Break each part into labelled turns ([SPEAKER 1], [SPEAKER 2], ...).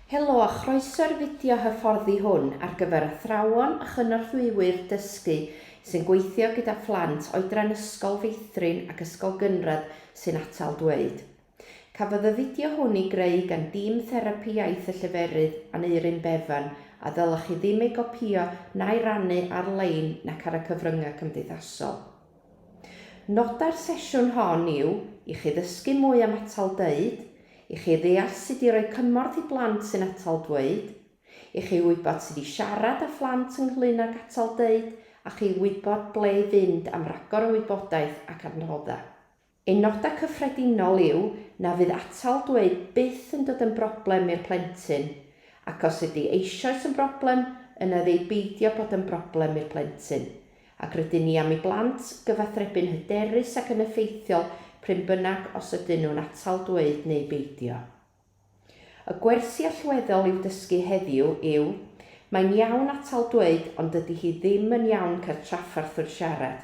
[SPEAKER 1] Helo a chroeso i'r fideo hyfforddi hwn ar gyfer athrawon a chynorthwywyr dysgu sy'n gweithio gyda phlant oedran Ysgol Feithrin ac Ysgol Gynradd sy'n atal dweud. Cafodd y fideo hwn ei greu gan dîm Therapi Iaith y Lleferydd, Aneurin Bevan, a ddylech chi ddim ei gopïo na'i rannu ar-lein nac ar y cyfryngau cymdeithasol. Nodau'r sesiwn hon yw i chi ddysgu mwy am atal dweud, i chi ddeall sut i roi cymorth i blant sy'n atal dweud, i chi wybod sut i siarad â phlant ynglŷn ag atal dweud a chi wybod ble i fynd am ragor o wybodaeth ac adnoddau. Ein nodau cyffredinol yw na fydd atal dweud byth yn dod yn broblem i'r plentyn, ac os ydy eisoes yn broblem, yna ef ei beidio bod yn broblem i'r plentyn, ac rydyn ni am i blant gyfathrebu'n hyderus ac yn effeithiol prin bynnag os ydyn nhw'n atal dweud neu beidio. Y gwersi allweddol i'w dysgu heddiw yw, Mae'n iawn atal dweud ond dydy hi ddim yn iawn cael trafferth wrth siarad.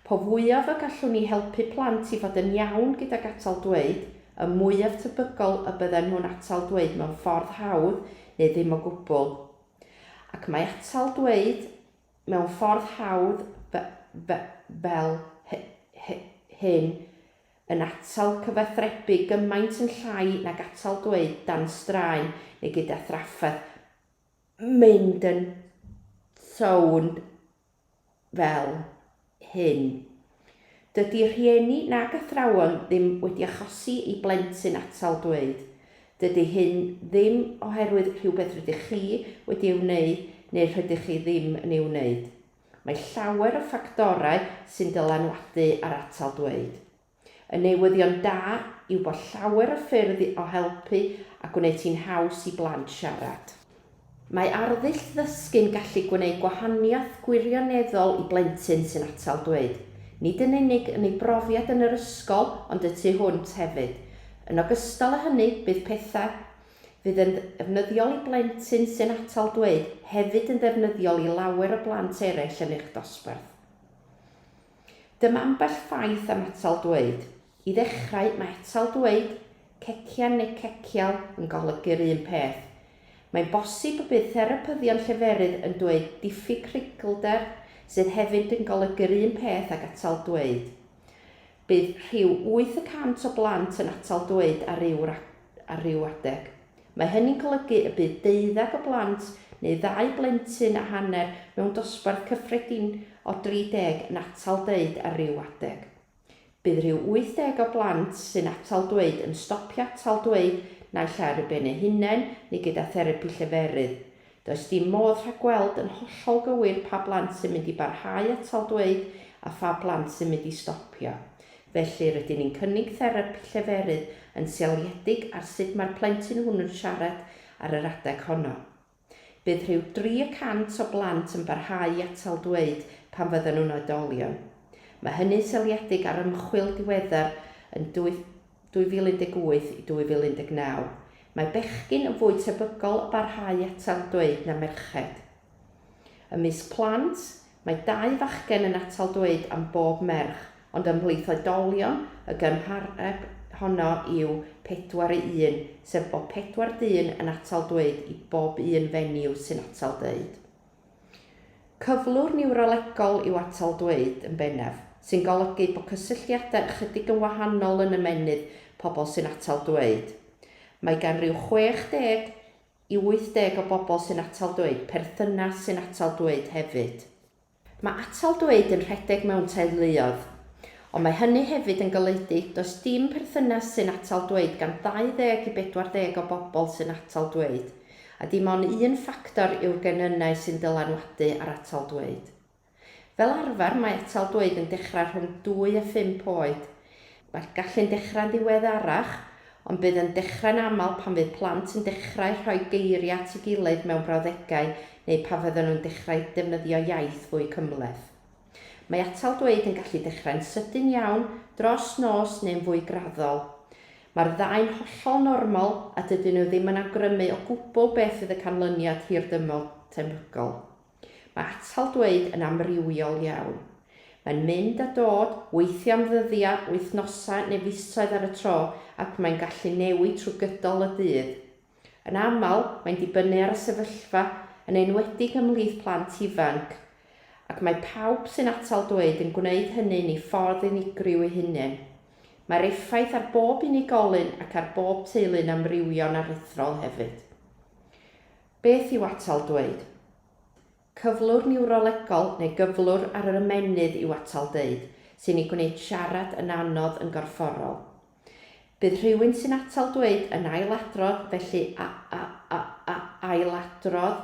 [SPEAKER 1] Po fwyaf y gallwn ni helpu plant i fod yn iawn gydag atal dweud, y mwyaf tebygol y bydden nhw'n atal dweud mewn ffordd hawdd neu ddim o gwbl. Ac mae atal dweud mewn ffordd hawdd fel hyn yn atal cyfathrebu gymaint yn llai nag atal dweud dan straen neu gyda thrafferth, mynd yn sownd fel hyn. Dydy rhieni nag athrawon ddim wedi achosi i blentyn atal dweud. Dydy hyn ddim oherwydd rhywbeth rydych chi wedi ei wneud neu rhydych chi ddim yn ei wneud. Mae llawer o ffactorau sy'n dylanwadu ar atal dweud. Y newyddion da yw bod llawer o ffyrdd o helpu a gwneud hi'n haws i blant siarad. Mae arddull ddysgu'n gallu gwneud gwahaniaeth gwirioneddol i blentyn sy'n atal dweud, nid yn unig yn ei brofiad yn yr ysgol ond y tu hwnt hefyd. Yn ogystal â hynny, bydd pethau. fydd yn ddefnyddiol i blentyn sy'n atal dweud hefyd yn ddefnyddiol i lawer o blant eraill yn eich dosbarth. Dyma ambell ffaith am atal dweud. I ddechrau, mae atal dweud, cecian neu cecial, yn golygu'r un peth. Mae'n bosib y bydd therapyddion lleferydd yn dweud diffyg creiglder, sydd hefyd yn golygu'r un peth ag atal dweud. Bydd rhyw wyth y cant o blant yn atal dweud ar ryw ar ryw adeg. Mae hynny'n golygu y bydd deuddeg o blant neu ddau blentyn a hanner mewn dosbarth cyffredin o 30 yn atal deud ar ryw adeg. Bydd rhyw 80 o blant sy'n atal dweud yn stopio atal dweud naill ai ar eu ben eu hunain neu gyda therapi lleferydd. Does dim modd rhagweld yn hollol gywir pa blant sy'n mynd i barhau atal dweud a pha blant sy'n mynd i stopio. Felly, rydyn ni'n cynnig therapi lleferydd yn seiliedig ar sut mae'r plentyn hwnnw'n siarad ar yr adeg honno. Bydd rhyw dri y cant o blant yn barhau i atal dweud pan fyddan nhw'n oedolion. Mae hynny'n seiliedig ar ymchwil diweddar yn 2018 i 2019, mae bechgyn yn fwy tebygol o barhau atal dweud na merched. Ymysg plant, mae dau fachgen yn atal dweud am bob merch, ond ymhlith oedolion, y gymhareb honno yw pedwar i un, sef bod pedwar dyn yn atal dweud i bob un fenyw sy'n atal dweud. Cyflwr niwrolegol yw atal dweud, yn bennaf, sy'n golygu bod cysylltiadau ychydig yn wahanol yn ymennydd pobl sy'n atal dweud. Mae gan ryw 60 i 80 o bobl sy'n atal dweud perthynas sy'n atal dweud hefyd. Mae atal dweud yn rhedeg mewn teuluoedd. Ond mae hynny hefyd yn golygu does dim perthynas sy'n atal dweud gan 20 i 40 o bobl sy'n atal dweud. A dim ond un ffactor yw'r genynnau sy'n dylanwadu ar atal dweud. Fel arfer mae atal dweud yn dechrau rhwng dwy a phump oed. Mae'r gallu'n dechrau'n ddiweddarach, ond bydd yn dechrau'n aml pan fydd plant yn dechrau rhoi geiriau at ei gilydd mewn brawddegau neu pan fyddan nhw'n dechrau defnyddio iaith fwy cymhleth. Mae atal dweud yn gallu dechrau'n sydyn iawn, dros nos neu'n fwy graddol. Mae'r ddau'n hollol normal a dydyn nhw ddim yn awgrymu o gwbl beth fydd y canlyniad hirdymor tebygol. Mae atal dweud yn amrywiol iawn. Mae'n mynd a dod, weithiau am ddyddiau, wythnosau neu fisoedd ar y tro ac mae'n gallu newid trwy gydol y dydd. Yn aml, mae'n dibynnu ar y sefyllfa, yn enwedig ymhlith plant ifanc, ac mae pawb sy'n atal dweud yn gwneud hynny'n ei ffordd unigryw ei hunain. Mae'r effaith ar bob unigolyn ac ar bob teulu'n amrywio'n aruthrol hefyd. Beth yw atal dweud? Cyflwr niwrolegol neu gyflwr ar yr ymennydd yw atal deud, sy'n ei gwneud siarad yn anodd yn gorfforol. Bydd rhywun sy'n atal dweud yn ailadrodd, felly a, a, a, a, ailadrodd,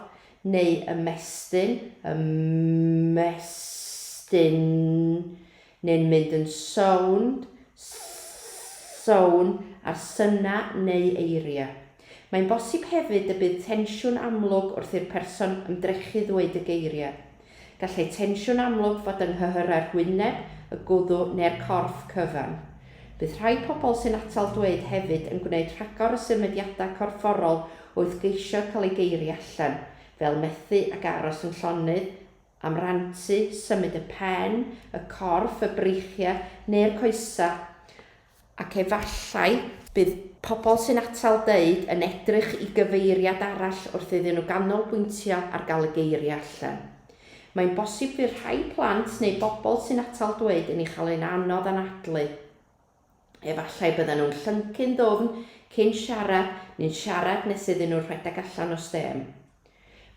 [SPEAKER 1] neu ymestyn, ymestyn, neu'n mynd yn sownd, sownd, ar synau neu eiriau. Mae'n bosib hefyd y bydd tensiwn amlwg wrth i'r person ymdrechu ddweud y geiriau. Gallai tensiwn amlwg fod yng nghyhyrau'r hwyneb, y gwddw neu'r corff cyfan. Bydd rhai pobl sy'n atal dweud hefyd yn gwneud rhagor o symudiadau corfforol wrth geisio cael eu geiriau allan, fel methu ac aros yn llonydd, am rantu, symud y pen, y corff, y breichiau neu'r coesau, ac efallai bydd pobl sy'n atal deud yn edrych i gyfeiriad arall wrth iddyn nhw ganolbwyntio ar gael y geiriau allan. Mae'n bosib fydd rhai plant neu bobl sy'n atal dweud yn ei chael e'n anodd anadlu. Efallai bydden nhw'n llyncu'n ddwfn cyn siarad neu'n siarad nes iddyn nhw rhedeg allan o stêm.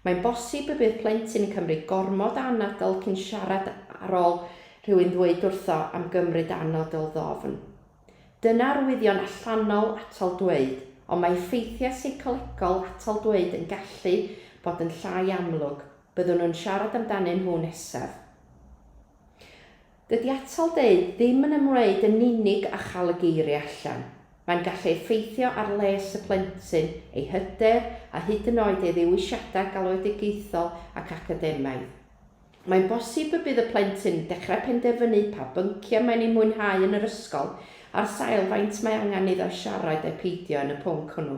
[SPEAKER 1] Mae'n bosib y bydd plentyn yn cymryd gormod o anadl cyn siarad ar ôl rhywun ddweud wrtho am gymryd anadl ddofn. Dyna arwyddion allanol atal dweud, ond mae effeithiau seicolegol atal dweud yn gallu bod yn llai amlwg, byddwn nhw'n siarad amdanyn nhw nesaf. Dydy atal deud ddim yn ymwneud yn unig â chael y geiriau allan. Mae'n gallu effeithio ar les y plentyn, ei hyder a hyd yn oed ei ddewisiadau galwedigaethol ac academaidd. Mae'n bosib y bydd y plentyn yn dechrau penderfynu pa bynciau mae'n eu mwynhau yn yr ysgol ar sail faint mae angen iddo siarad ai peidio yn y pwnc hwnnw.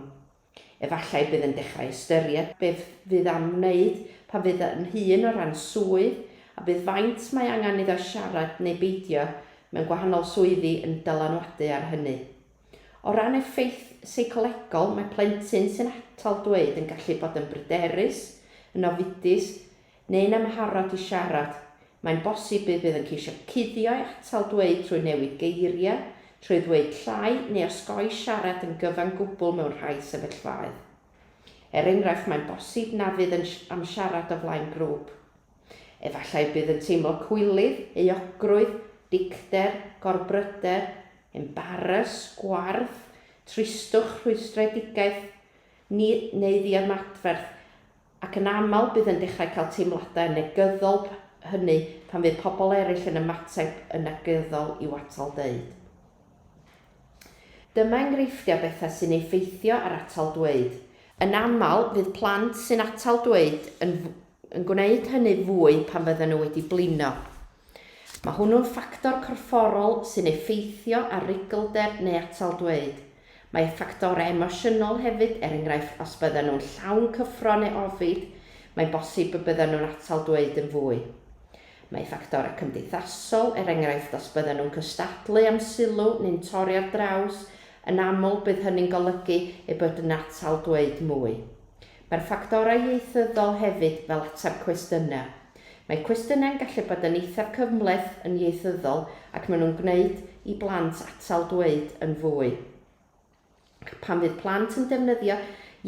[SPEAKER 1] Efallai bydd yn dechrau ystyried beth fydd am wneud pan fydd yn hŷn o ran swydd, a bydd faint mae angen iddo siarad neu beidio mewn gwahanol swyddi yn dylanwadu ar hynny. O ran effaith seicolegol, mae plentyn sy'n atal dweud yn gallu bod yn bryderus, yn ofidus, neu'n amharod i siarad, mae'n bosib bydd bydd yn ceisio cuddio'i atal dweud trwy newid geiriau, trwy ddweud llai neu osgoi siarad yn gyfan gwbl mewn rhai sefyllfaoedd. Er enghraifft, mae'n bosib na fydd yn am siarad o flaen grŵp. Efallai bydd yn teimlo cwilydd, euogrwydd, dicter, gorbryder, embaras, gwarth, tristwch, rhwystredigaeth, ni, neu ddiymadferth, ac yn aml bydd yn dechrau cael teimladau negyddol hynny pan fydd pobl eraill yn ymateb yn negyddol i'w atal deud. Dyma enghreifftiau bethau sy'n effeithio ar atal dweud. Yn aml, fydd plant sy'n atal dweud yn, yn gwneud hynny fwy pan fydden nhw wedi blino. Mae hwnnw'n ffactor corfforol sy'n effeithio ar ruglder neu atal dweud. Mae ffactorau emosiynol hefyd, er enghraifft os byddan nhw'n llawn cyffro neu ofid, mae'n bosib y byddan nhw'n atal dweud yn fwy. Mae ffactorau cymdeithasol, er enghraifft os byddan nhw'n cystadlu am sylw neu'n torri ar draws, yn aml bydd hynny'n golygu eu bod yn atal dweud mwy. Mae'r ffactorau ieithyddol hefyd fel ateb cwestiynau. Mae cwestiynau'n gallu bod yn eithaf cymhleth yn ieithyddol ac maen nhw'n gwneud i blant atal dweud yn fwy. Ac pan fydd plant yn defnyddio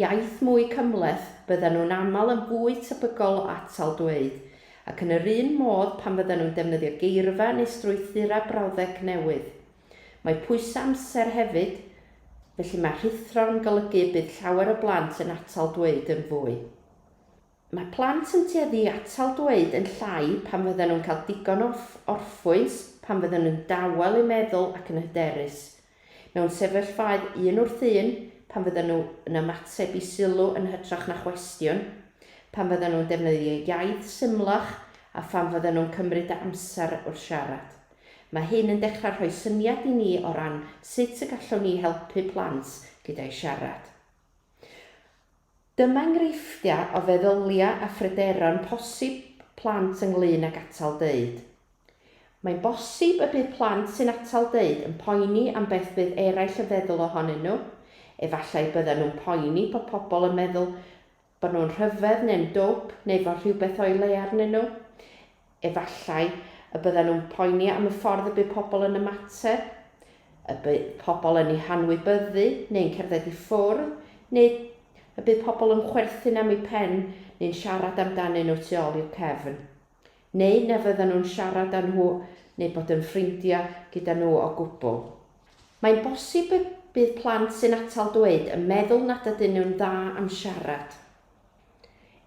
[SPEAKER 1] iaith mwy cymhleth, byddan nhw'n aml yn fwy tebygol o atal dweud. Ac yn yr un modd pan fyddan nhw'n defnyddio geirfa neu strwythurau brawddeg newydd. Mae pwysau amser hefyd, felly mae rhuthro'n golygu y bydd llawer o blant yn atal dweud yn fwy. Mae plant yn tueddu i atal dweud yn llai pan fyddan nhw'n cael digon o orffwys, pan fyddan nhw'n dawel eu meddwl ac yn hyderus. Mewn sefyllfaoedd un wrth un, pan fyddan nhw yn ymateb i sylw yn hytrach na chwestiwn, pan fyddan nhw'n defnyddio iaith symlach a phan fyddan nhw'n cymryd amser wrth siarad. Mae hyn yn dechrau rhoi syniad i ni o ran sut y gallwn ni helpu plant gyda'u siarad. Dyma enghreifftiau o feddyliau a phryderon posib plant ynglŷn ag atal deud. Mae'n bosib y bydd plant sy'n atal deud yn poeni am beth fydd eraill yn feddwl ohonyn nhw, efallai byddan nhw'n poeni bod pobl yn meddwl Bod nhw'n rhyfedd neu'n dwp neu fod rhywbeth o'i le arnyn nhw? Efallai y byddan nhw'n poeni am y ffordd y bydd pobl yn ymateb, y bydd pobl yn eu hanwybyddu neu'n cerdded i ffwrdd, neu y bydd pobl yn chwerthin am eu pen neu'n siarad amdanyn nhw tu ôl i'w cefn. neu na fyddan nhw'n siarad â nhw neu bod yn ffrindiau gyda nhw o gwbl. Mae'n bosib y bydd plant sy'n atal dweud yn meddwl nad ydyn nhw'n dda am siarad.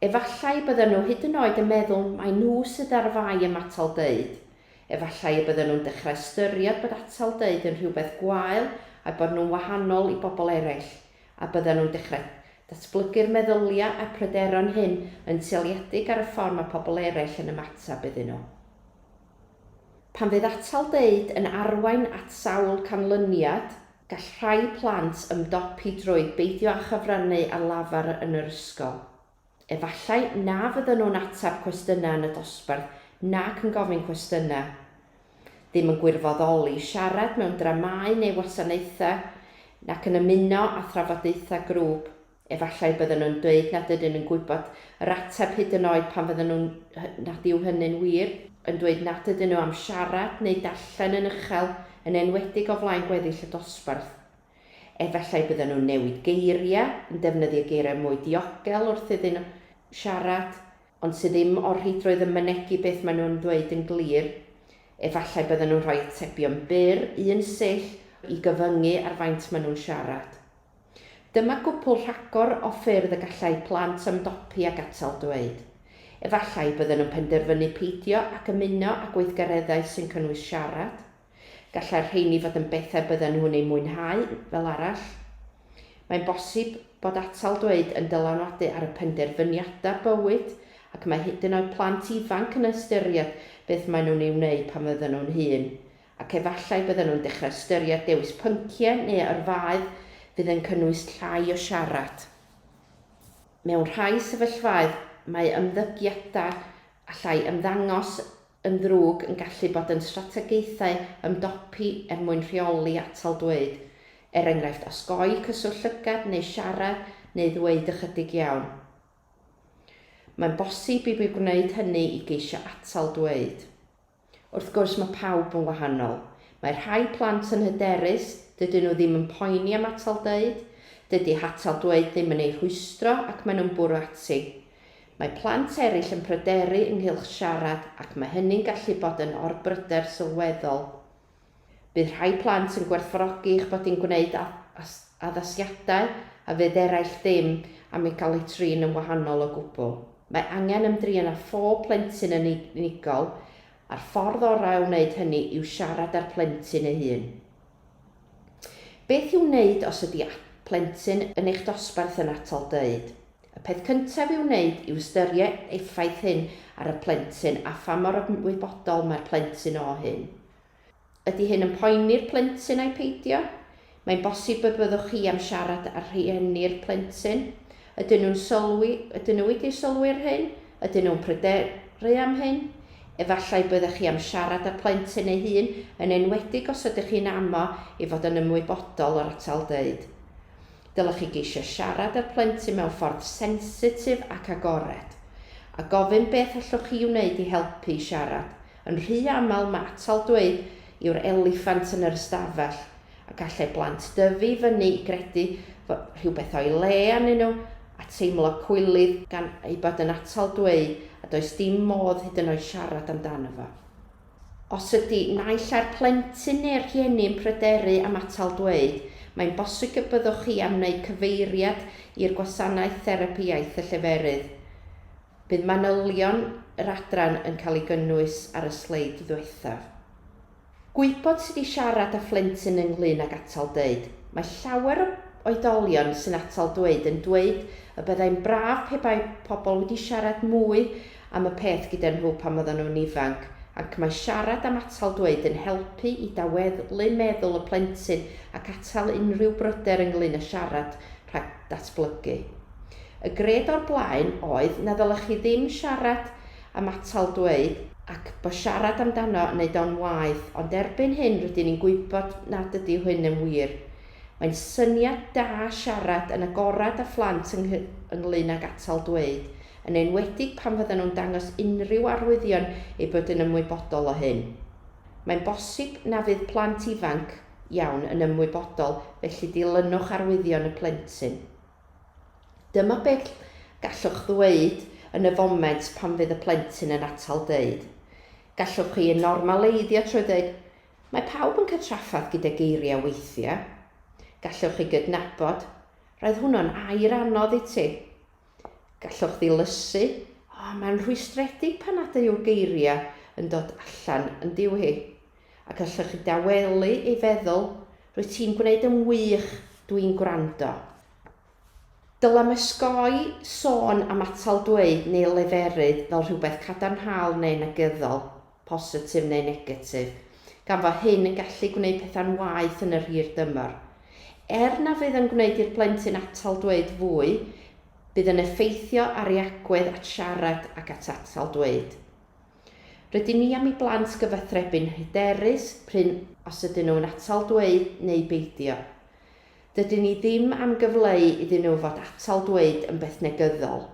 [SPEAKER 1] Efallai y byddan nhw hyd yn oed yn meddwl mai nhw sydd ar fai am atal deud, efallai y byddan nhw'n dechrau ystyried bod atal deud yn rhywbeth gwael a'u bod nhw'n wahanol i bobl eraill. a byddan nhw'n dechrau datblygu'r meddyliau a'r pryderon hyn yn seiliedig ar y ffordd mae pobl eraill yn ymateb iddyn nhw. Pan fydd atal deud yn arwain at sawl canlyniad, gall rhai plant ymdopi drwy beidio â chyfrannu ar lafar yn yr ysgol. Efallai na fyddan nhw'n ateb cwestiynau yn y dosbarth nac yn gofyn cwestiynau. Ddim yn gwirfoddoli, siarad mewn dramâu neu wasanaethau, nac yn ymuno â thrafodaethau grŵp. Efallai byddan nhw'n dweud nad ydyn nhw'n gwybod yr ateb hyd yn oed pan fyddan nhw'n, nad yw hynny'n wir, yn dweud nad ydyn nhw am siarad neu darllen yn uchel, yn enwedig o flaen gweddill y dosbarth. Efallai bydden nhw'n newid geiriau, yn defnyddio geiriau mwy diogel wrth iddyn nhw siarad, ond sydd ddim o'r rheidrwydd yn mynegi beth maen nhw'n ddweud yn glir. Efallai bydden nhw'n rhoi atebion byr, un sill, i gyfyngu ar faint maen nhw'n siarad. Dyma gwpwl rhagor o ffyrdd y gallai plant ymdopi ag atal dweud. Efallai bydden nhw'n penderfynu peidio ac ymuno â gweithgareddau sy'n cynnwys siarad. Gallai'r rheini fod yn bethau bydden nhw'n eu mwynhau, fel arall. Mae'n bosib bod atal dweud yn dylanwadu ar y penderfyniadau bywyd, ac mae hyd yn oed plant ifanc yn ystyried beth maen nhw'n ei wneud pan fydden nhw'n hŷn, ac efallai bydden nhw'n dechrau ystyried dewis pynciau neu yrfaoedd fydd yn cynnwys llai o siarad. Mewn rhai sefyllfaoedd, mae ymddygiadau allai ymddangos yn ddrwg yn gallu bod yn strategaethau ymdopi er mwyn rheoli atal dweud, er enghraifft osgoi cyswllt llygad neu siarad neu ddweud ychydig iawn. Mae'n bosib i mi wneud hynny i geisio atal dweud. Wrth gwrs, mae pawb yn wahanol. Mae rhai plant yn hyderus, dydyn nhw ddim yn poeni am atal dweud, dydy hatal dweud ddim yn eu rhwystro ac maen nhw'n bwrw ati. Mae plant eraill yn pryderu ynghylch siarad ac mae hynny'n gallu bod yn orbryder sylweddol. Bydd rhai plant yn gwerthfawrogi eich bod yn gwneud addasiadau a fydd eraill ddim am ei gael ei trin yn wahanol o gwbl. Mae angen ymdrin â phob plentyn yn unigol, a'r ffordd orau o wneud hynny yw siarad â'r plentyn ei hun. Beth i'w wneud os ydi plentyn yn eich dosbarth yn atal dweud? Y peth cyntaf i'w wneud yw ystyried effaith hyn ar y plentyn a pha mor ymwybodol mae'r plentyn o hyn. Ydi hyn yn poeni'r plentyn ai peidio? Mae'n bosib y byddwch chi am siarad â rhieni'r plentyn Ydyn nhw'n sylwi, ydyn nhw wedi sylwi ar hyn? Ydyn nhw'n pryderu am hyn? Efallai byddech chi am siarad â'r plentyn ei hun, yn enwedig os ydych chi'n amo i fod yn ymwybodol o'r atal dweud. Dylech chi geisio siarad â'r plentyn mewn ffordd sensitif ac agored, a gofyn beth allwch chi wneud i helpu i siarad. Yn rhy aml mae atal dweud yw'r eliffant yn yr ystafell, a gallai blant dyfu i fyny i gredu fod rhywbeth o'i le arnyn nhw, a teimlo cwilydd gan ei bod yn atal dweud a does dim modd hyd yn oed siarad amdano fo. Os ydy naill ai'r plentyn neu'r rhieni yn pryderu am atal dweud, mae'n bosig y byddwch chi am wneud cyfeiriad i'r gwasanaeth therapi iaith y lleferydd. Bydd manylion yr adran yn cael ei gynnwys ar y sleid ddiwethaf. Gwybod sut i siarad â phlentyn ynglŷn ag atal dweud. Mae llawer o oedolion sy'n atal dweud yn dweud y byddai'n braf pe bai pobl wedi siarad mwy am y peth gyda nhw pan oedden nhw'n ifanc, ac mae siarad am atal dweud yn helpu i daweddlu meddwl y plentyn ac atal unrhyw bryder ynglŷn â siarad rhag datblygu. Y gred o'r blaen oedd na ddylech chi ddim siarad am atal dweud, ac bo siarad amdano yn neud o'n waeth, ond erbyn hyn rydyn ni'n gwybod nad ydy hyn yn wir. Mae'n syniad da siarad yn agorad â phlant yng ynglŷn ag atal dweud, yn enwedig pan fyddan nhw'n dangos unrhyw arwyddion eu bod yn ymwybodol o hyn. Mae'n bosib na fydd plant ifanc iawn yn ymwybodol, felly dilynwch arwyddion y plentyn. Dyma beth gallwch ddweud yn y foment pan fydd y plentyn yn atal dweud. Gallwch chi ei normaleiddio trwy ddweud, Mae pawb yn cael trafferth gyda geiriau weithiau. Gallwch chi gydnabod, Roedd hwnnw'n air anodd i ti. Gallwch ddilysu, O, mae'n rhwystredig pan nad yw'r geiriau yn dod allan yn diw hi. Ac allech chi dawelu ei feddwl, Rwyt ti'n gwneud yn wych, dw i'n gwrando. Dylem osgoi sôn am atal dweud neu leferydd fel rhywbeth cadarnhaol neu negyddol, positif neu negatif, gan fo hyn yn gallu gwneud pethau'n waeth yn yr hir dymor. Er na fydd yn gwneud i'r plentyn atal dweud fwy, bydd yn effeithio ar ei agwedd at siarad ac at atal dweud. Rydyn ni am i blant gyfathrebu'n hyderus prin os ydyn nhw'n atal dweud neu beidio. Dydyn ni ddim am gyfleu iddyn nhw fod atal dweud yn beth negyddol.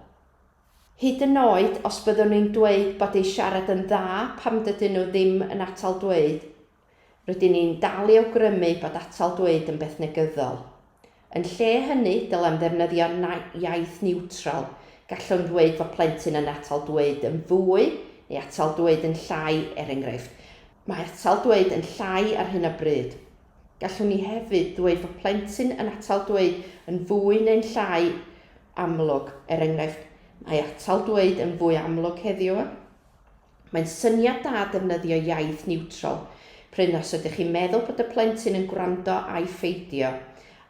[SPEAKER 1] Hyd yn oed os byddwn ni'n dweud bod eu siarad yn dda pam dydyn nhw ddim yn atal dweud, Rydyn ni'n dal i awgrymu bod atal dweud yn beth negyddol. Yn lle hynny, dylem ddefnyddio iaith niwtral, gallwn ddweud fod plentyn yn atal dweud yn fwy neu atal dweud yn llai, er enghraifft, Mae atal dweud yn llai ar hyn o bryd. Gallwn ni hefyd ddweud fod plentyn yn atal dweud yn fwy neu'n llai amlwg, er enghraifft, Mae atal dweud yn fwy amlwg heddiw. Mae'n syniad da defnyddio iaith niwtral, prin os ydych chi'n meddwl bod y plentyn yn gwrando ai pheidio,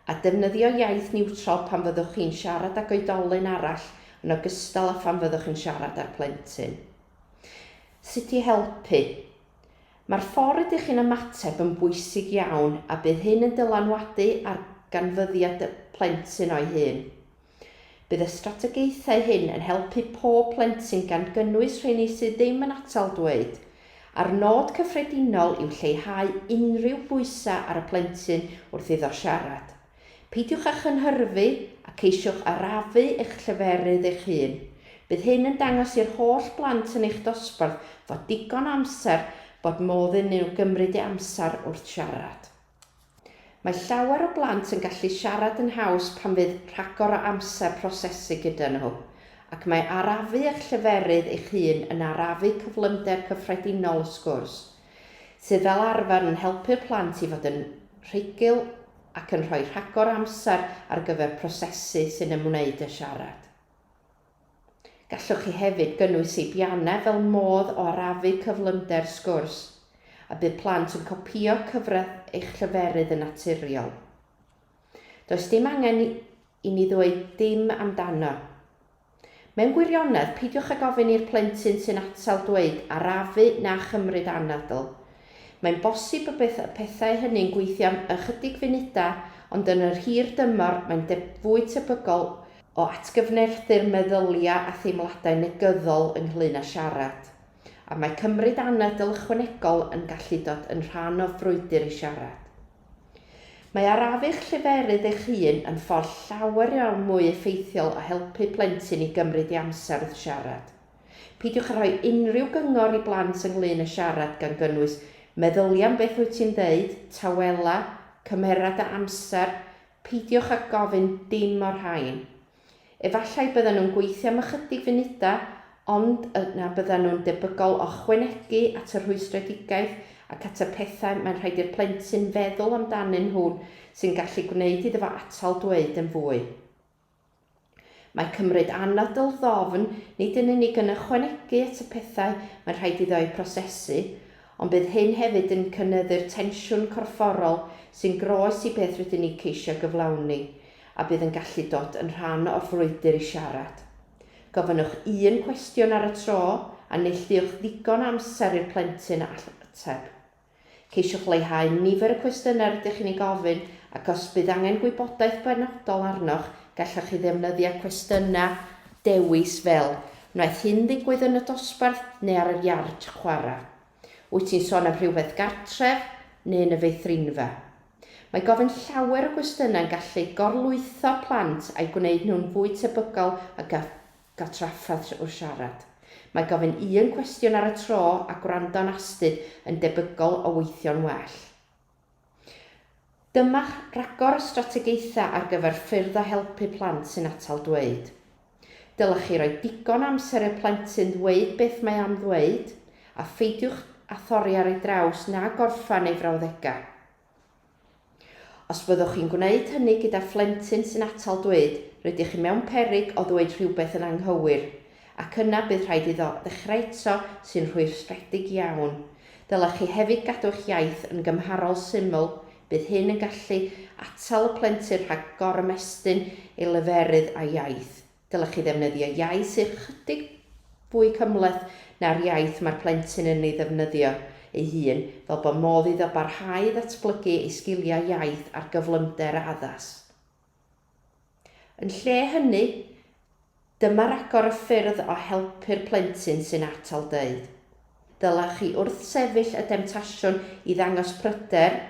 [SPEAKER 1] a defnyddio iaith niwtral pan fyddwch chi'n siarad ag oedolyn arall yn ogystal â phan fyddwch yn siarad â'r plentyn. Sut i helpu. Mae'r ffordd rydych chi'n ymateb yn bwysig iawn a bydd hyn yn dylanwadu ar ganfyddiad y plentyn o'i hun. Bydd y strategaethau hyn yn helpu pob plentyn gan gynnwys rheini sydd ddim yn atal dweud, a'r nod cyffredinol yw lleihau unrhyw bwysau ar y plentyn wrth iddo siarad. Peidiwch â chynhyrfu a ceisiwch arafu eich lleferydd eich hun. Bydd hyn yn dangos i'r holl blant yn eich dosbarth fod digon o amser bod modd iddyn nhw gymryd eu amser wrth siarad. Mae llawer o blant yn gallu siarad yn haws pan fydd rhagor o amser prosesu gyda nhw, ac mae arafu eich lleferydd eich hun yn arafu cyflymder cyffredinol y sgwrs, sydd fel arfer yn helpu'r plant i fod yn rhugl ac yn rhoi rhagor o amser ar gyfer prosesu sy'n ymwneud â siarad. Gallwch chi hefyd gynnwys seibiannau fel modd o arafu cyflymder sgwrs, a bydd plant yn copïo cyfradd eich lleferydd yn naturiol. Does dim angen i ni ddweud dim amdano. Mewn gwirionedd, peidiwch ag ofyn i'r plentyn sy'n atal dweud 'arafu' na 'chymryd anadl'. Mae'n bosib y bydd y pethau hynny'n gweithio am ychydig funudau, ond yn yr hir dymor mae'n fwy tebygol o atgyfnerthu'r meddyliau a theimladau negyddol ynglŷn â siarad, a mae cymryd anadl ychwanegol yn gallu dod yn rhan o frwydr i siarad. Mae arafu'ch lleferydd eich hun yn ffordd llawer iawn mwy effeithiol o helpu plentyn i gymryd ei amser wrth siarad. Peidiwch â rhoi unrhyw gyngor i blant ynglŷn â siarad gan gynnwys meddylia am beth wyt ti'n ddeud, tawela, cymera dy amser, Peidiwch â gofyn dim o'r rhain. Efallai byddan nhw'n gweithio am ychydig funudau, ond yna byddan nhw'n debygol o ychwanegu at y rhwystredigaeth ac at y pethau mae'n rhaid i'r plentyn feddwl amdanyn nhw sy'n gallu gwneud iddo fo atal dweud yn fwy. Mae cymryd anadl ddofn nid yn unig yn ychwanegu at y pethau mae'n rhaid iddo eu prosesu, ond bydd hyn hefyd yn cynyddu'r tensiwn corfforol sy'n groes i beth rydyn ni ceisio gyflawni, a bydd yn gallu dod yn rhan o'r frwydr i siarad. Gofynnwch un cwestiwn ar y tro, a neilltuwch ddigon o amser i'r plentyn ateb. Ceisiwch leihau nifer y cwestiynau rydych chi'n eu gofyn ac os bydd angen gwybodaeth benodol arnoch, gallwch chi ddefnyddio cwestiynau dewis fel, Wnaeth hyn ddigwydd yn y dosbarth neu ar yr iard chwarae? Wyt ti'n sôn am rhywbeth gartref neu yn y feithrinfa? Mae gofyn llawer o gwestiynau'n gallu gorlwytho plant a'i gwneud nhw'n fwy tebygol o gael Cael trafferth trwy'r siarad. Mae gofyn un cwestiwn ar y tro a gwrando'n astud yn debygol o weithio'n well. Dyma'ch rhagor o strategaethau ar gyfer ffyrdd o helpu plant sy'n atal dweud. Dylech chi roi digon o amser i'r plentyn ddweud beth mae am ddweud, a pheidiwch â thorri ar ei draws na gorffen ei frawddegau. Os byddwch chi'n gwneud hynny gyda phlentyn sy'n atal dweud, rydych chi mewn peryg o ddweud rhywbeth yn anghywir, ac yna bydd rhaid iddo ddechrau eto, sy'n rhwystredig iawn. Dylech chi hefyd gadw eich iaith yn gymharol syml, bydd hyn yn gallu atal y plentyn rhag gorymestyn ei leferydd a'i iaith. Dylech chi ddefnyddio iaith sydd ychydig fwy cymhleth na'r iaith mae'r plentyn yn ei ddefnyddio ei hun, fel bod modd iddo barhau i ddatblygu ei sgiliau iaith ar gyflymder a addas. Yn lle hynny, dyma ragor o ffyrdd o helpu'r plentyn sy'n atal dweud. Dylech chi wrthsefyll y demtasiwn i ddangos pryder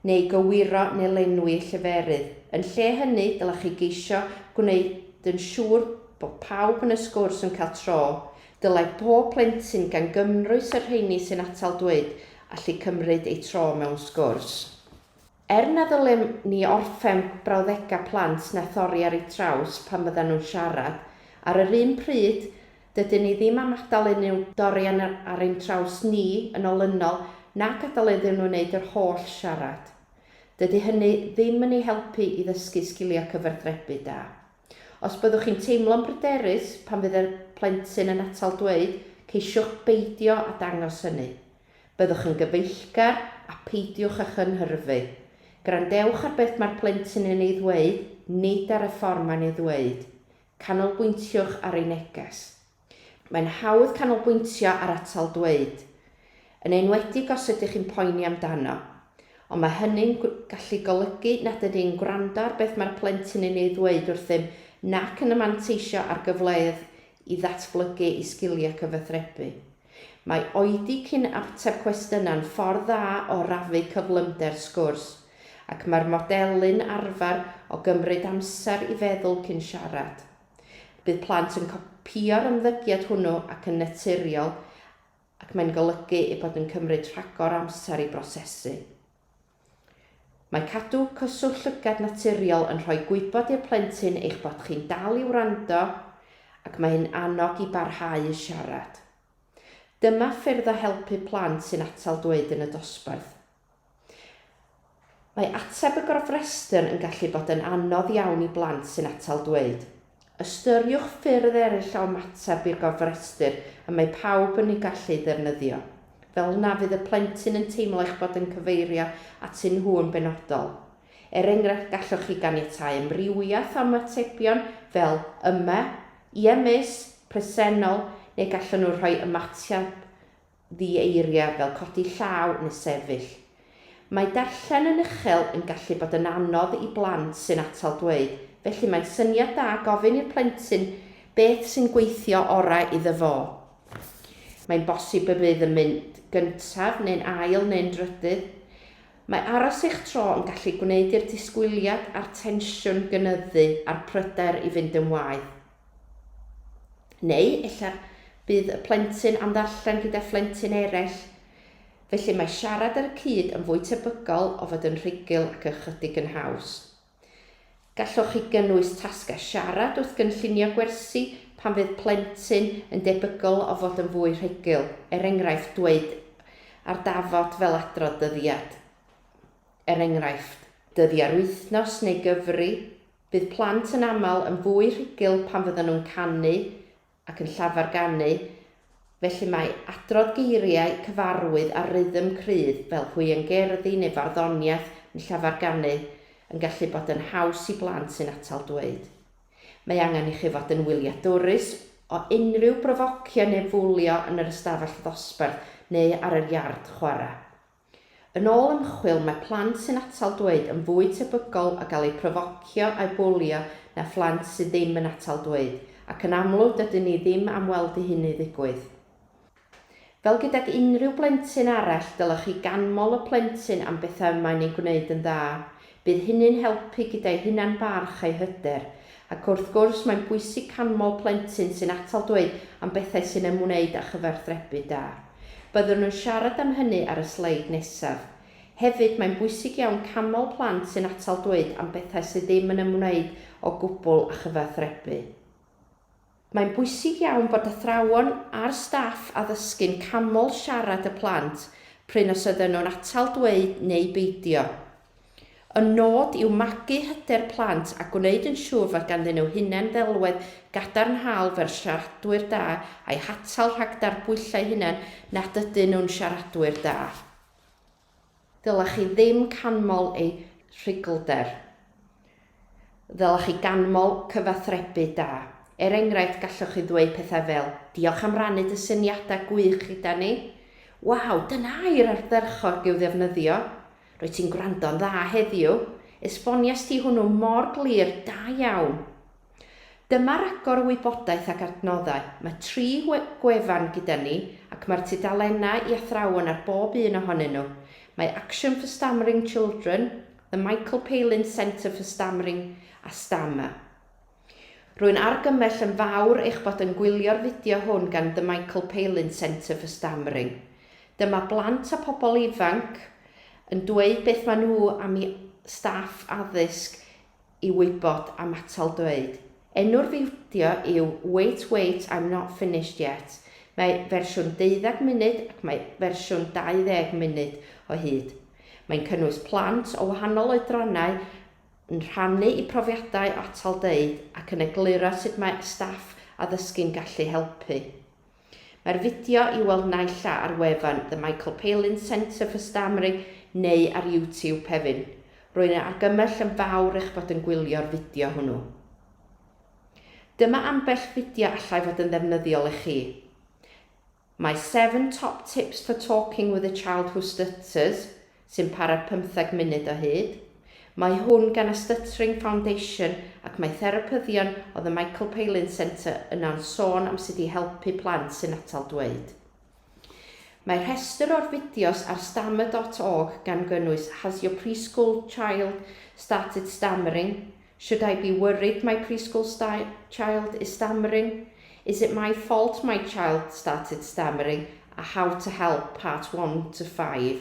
[SPEAKER 1] neu gywiro neu lenwi lleferydd. Yn lle hynny, dylech chi geisio gwneud yn siŵr bod pawb yn y sgwrs yn cael tro. Dylai pob plentyn, gan gymrwys y rheini sy'n atal dweud, allu cymryd eu tro mewn sgwrs. Er na ddylem ni orffen brawddegau plant na thorri ar eu traws pan fyddan nhw'n siarad, ar yr un pryd, Dydyn ni ddim am adael unrhyw dorian ar ein traws ni yn olynol na gadael iddyn nhw wneud yr holl siarad. Dydy hynny ddim yn eu helpu i ddysgu sgiliau cyfathrebu da. Os byddwch chi'n teimlo'n bryderus pan fydd y plentyn yn atal dweud, ceisiwch beidio â dangos hynny. Byddwch yn gyfeillgar a pheidiwch â chynhyrfu. Gwrandewch ar beth mae'r plentyn yn ei ddweud, nid ar y ffordd mae'n ei ddweud. Canolbwyntiwch ar ei neges. Mae'n hawdd canolbwyntio ar atal dweud, yn enwedig os ydych chi'n poeni amdano, ond mae hynny'n gallu golygu nad ydyn ni'n gwrando ar beth mae'r plentyn yn ei ddweud wrthym nac yn manteisio ar gyfleoedd i ddatblygu ei sgiliau cyfathrebu. Mae oedi cyn ateb cwestiynau'n ffordd dda o rafu cyflymder sgwrs, ac mae'r modelu'n arfer o gymryd amser i feddwl cyn siarad. Bydd plant yn copïo'r ymddygiad hwnnw ac yn naturiol ac mae'n golygu eu bod yn cymryd rhagor o amser i brosesu. Mae cadw cyswllt llygad naturiol yn rhoi gwybod i'r plentyn eich bod chi'n dal i wrando ac mae hyn annog i barhau i siarad. Dyma ffyrdd o helpu plant sy'n atal dweud yn y dosbarth. Mae ateb y gofrestr yn gallu bod yn anodd iawn i blant sy'n atal dweud. Ystyriwch ffyrdd eraill o ymateb i'r gofrestr y mae pawb yn ei gallu ei ddefnyddio. Fel na fydd y plentyn yn teimlo eich bod yn cyfeirio atyn nhw yn benodol. Er enghraifft, gallwch chi ganiatáu amrywiaeth o ymatebion fel 'Yma', 'Ie Miss', 'Presennol', neu gallwn nhw rhoi ymateb ddi-eiriau fel codi llaw neu sefyll. Mae darllen yn uchel yn gallu bod yn anodd i blant sy'n atal dweud, felly mae'n syniad da gofyn i'r plentyn beth sy'n gweithio orau iddo fo. Mae'n bosib y bydd yn mynd gyntaf neu'n ail neu'n drydydd. Mae aros eich tro yn gallu gwneud i'r disgwyliad a'r tensiwn gynyddu a'r pryder i fynd yn waeth. Neu ella bydd y plentyn am ddarllen gyda phlentyn eraill. Felly mae siarad ar y cyd yn fwy tebygol o fod yn rhugl ac ychydig yn haws. Gallwch chi gynnwys tasgau siarad wrth gynllunio gwersi pan fydd plentyn yn debygol o fod yn fwy rhugl, er enghraifft dweud ar dafod fel adrodd dyddiad, er enghraifft. Dyddiau'r wythnos neu gyfri. Bydd plant yn aml yn fwy rhugl pan fyddan nhw'n canu ac yn llafar ganu, felly mae adrodd geiriau cyfarwydd a rhythm cryf fel hwiangerddi neu farddoniaeth yn llafar ganu yn gallu bod yn haws i blant sy'n atal dweud. Mae angen i chi fod yn wyliadwrus o unrhyw brofocio neu fwlio yn yr ystafell ddosbarth neu ar yr iard chwarae. Yn ôl ymchwil, mae plant sy'n atal dweud yn fwy tebygol o gael eu profocio a'u bwlio na phlant sydd ddim yn atal dweud, ac yn amlwg dydyn ni ddim am weld i hynny ddigwydd. Fel gydag unrhyw blentyn arall, dylech chi ganmol y plentyn am bethau y mae'n eu gwneud yn dda. Bydd hynny'n helpu gyda'i hunan-barch a'i hyder. Ac wrth gwrs, mae'n bwysig canmol plentyn sy'n atal dweud am bethau sy'n ymwneud â chyfathrebu da. Byddwn yn siarad am hynny ar y sleid nesaf. Hefyd, mae'n bwysig iawn canmol plant sy'n atal dweud am bethau sydd ddim yn ymwneud o gwbl â chyfathrebu. Mae'n bwysig iawn bod athrawon a'r staff addysgu'n canmol siarad y plant prin os ydyn nhw'n atal dweud neu beidio. Y nod yw magu hyder plant a gwneud yn siŵr fod ganddyn nhw hunan-ddelwedd gadarnhaol fel siaradwyr da a'i hatal rhag darbwyllo eu hunain nad ydyn nhw'n siaradwyr da. Ddylech chi ddim canmol eu rhuglder. Ddylech chi ganmol cyfathrebu da. Er enghraifft, gallwch chi ddweud pethau fel, Diolch am rannu dy syniadau gwych gyda ni. Waw, dyna air ardderchog i'w ddefnyddio. Rwyt ti'n gwrando'n dda heddiw. Esbonies ti hwnnw mor glir, da iawn. Dyma ragor o wybodaeth ac adnoddau. Mae tri gwefan gyda ni ac mae'r tudalennau i athrawon ar bob un ohonyn nhw. Mae Action for Stammering Children, The Michael Palin Centre for Stammering a Stammer. Rwy'n argymell yn fawr eich bod yn gwylio'r fideo hwn gan The Michael Palin Centre for Stammering. Dyma blant a pobl ifanc yn dweud beth maen nhw am i staff addysg i wybod am atal dweud. Enw'r fideo yw Wait Wait I'm Not Finished Yet, mae fersiwn deuddeg munud ac mae fersiwn 20 munud o hyd. Mae'n cynnwys plant o wahanol oedrannau yn rhannu eu profiadau o atal dweud ac yn egluro sut mae staff addysgu'n gallu helpu. Mae'r fideo i'w weld naill a ar wefan The Michael Palin Centre for Stammering neu ar YouTube, Pevin. Rwy'n ei argymell yn fawr eich bod yn gwylio'r fideo hwnnw. Dyma ambell fideo allai fod yn ddefnyddiol i chi. My 7 Top Tips for Talking with a Child Who Stutters, sy'n para pymtheg munud o hyd. Mae hwn gan y Stuttering Foundation ac mae therapyddion o The Michael Palin Centre yno'n sôn am sut i helpu plant sy'n atal dweud. Mae rhestr o'r fideos ar stammer dot org gan gynnwys Has your preschool child started stammering? Should I be worried my preschool child is stammering? Is it my fault my child started stammering? a How to Help, Part One to Five.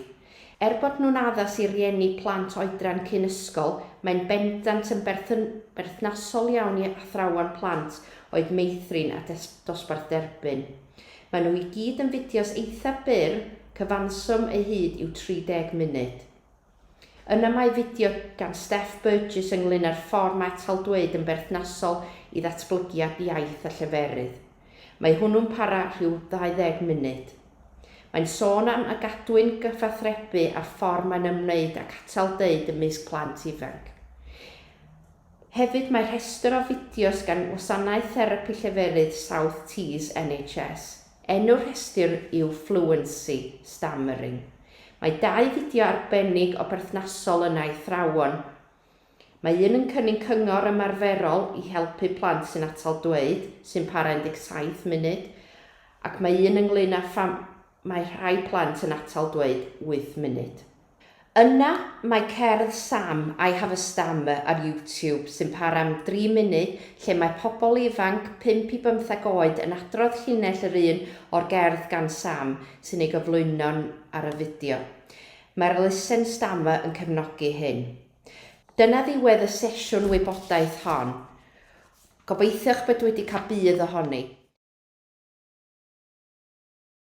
[SPEAKER 1] Er bod nhw'n addas i rieni plant oedran cyn ysgol, mae'n bendant yn berthnasol iawn i athrawon plant oed meithrin a dosbarth derbyn. Maen nhw i gyd yn fideos eitha' byr, cyfanswm eu hyd yw 30 munud. Yna mae fideo gan Steph Burgess ynglŷn â'r ffordd mae taldweud yn berthnasol i ddatblygiad iaith a lleferydd. Mae hwnnw'n para rhyw 20 munud. Mae'n sôn am a gadwyn gyfathrebu a'r ffordd mae'n ymwneud ac atal deud ymysg plant ifanc. Hefyd mae rhestr o fideos gan Wasanaeth Therapi Lleferydd South Tees NHS. Enw'r rhestr yw Fluency, Stammering. Mae dau fideo arbennig o berthnasol yna i athrawon. Mae un yn cynnig cyngor ymarferol i helpu plant sy'n atal dweud, sy'n para 17 munud, ac mae un ynglŷn â pham mae rhai plant yn atal dweud 8 munud. Yna mae cerdd Sam, I Have a Stammer ar YouTube sy'n para am dri munud lle mae pobl ifanc, pump i bymtheg oed, yn adrodd llinell yr un o'r gerdd gan Sam sy'n ei gyflwyno ar y fideo. Mae'r Listen Stammer yn cefnogi hyn. Dyna ddiwedd y sesiwn wybodaeth hon. Gobeithio eich bod wedi cael budd ohoni.